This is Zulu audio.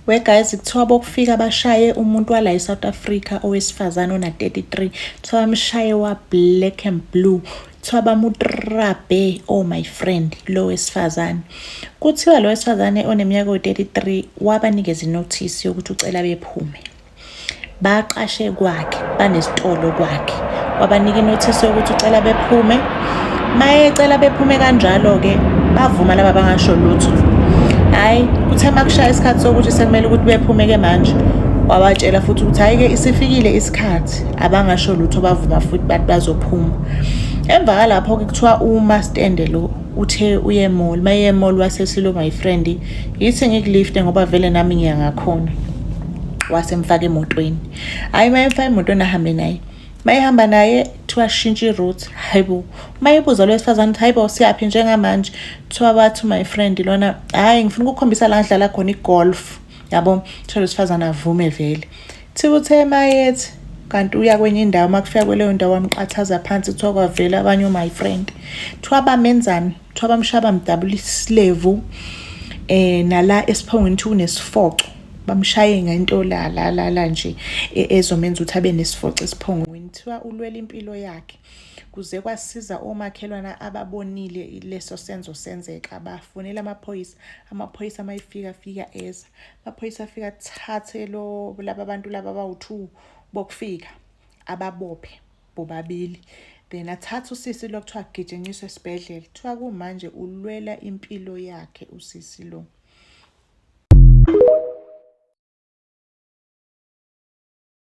We guys kuthiwa bokufika bashaye umuntu wala eSouth Africa owesifazane ona 33 kuthiwa bamshaye wa black and blue kuthiwa bamutrabe oh my friend lo wesifazane kuthiwa lo wesifazane oneminyaka 33 wabanikeza inotice yokuthi ucela bephume baqashe kwakhe banesitolo kwakhe wabanika inothisi yokuthi ucela bephume mayecela bephume kanjalo-ke bavuma laba bangasho lutho hhayi kuthe uma kushaya isikhathi sokuthi sekumele ukuthi bephume-ke manje wabatshela futhi ukuthi hhayi-ke isifikile isikhathi abangasho lutho bavuma futhi bathi bazophuma emva kalapho-ke kuthiwa uma stende lo uthe uye mall uma ye mall wasesiluma yifrendi yithi ngikulifte ngoba vele nami ngiyangakhona wasemfaka emotweni hhayi uma emfaka emotweni ahambe naye mayehamba naye kuthiwa shintshe i-route hayibo mayibuza lo wesifazane ukuthi hayibo siyaphi njengamanje kuthiwa wathi my friend lona hhayi ngifuna ukukhombisa la ngidlala khona igolf yabo kuthiwa lo sifazane avume vele thiba uthe mayethi kanti uya kwenye indawo uma kufika kweleyo ndawo wamqathaza phansi kuthiwa kwavela abanye o-my friend kuthiwa bamenzani kuthiwa bamshaba mdabula isilevu eh nala esiphongweni ukuthi unesifoco bamshaye ngento la la la la nje e, ezomenza ukuthi abe nesifoco esiphongweni kuthiwa ulwela impilo yakhe kuze kwasiza omakhelwana ababonile leso senzo senzeka bafonela amaphoyisa amaphoyisa amayifika fika eza amaphoyisa afika thathe lo laba bantu laba bawu-two bokufika ababophe bobabili then athatha usisi lo kuthiwa agitshenyiswe esibhedlela kuthiwa kumanje ulwela impilo yakhe usisi lo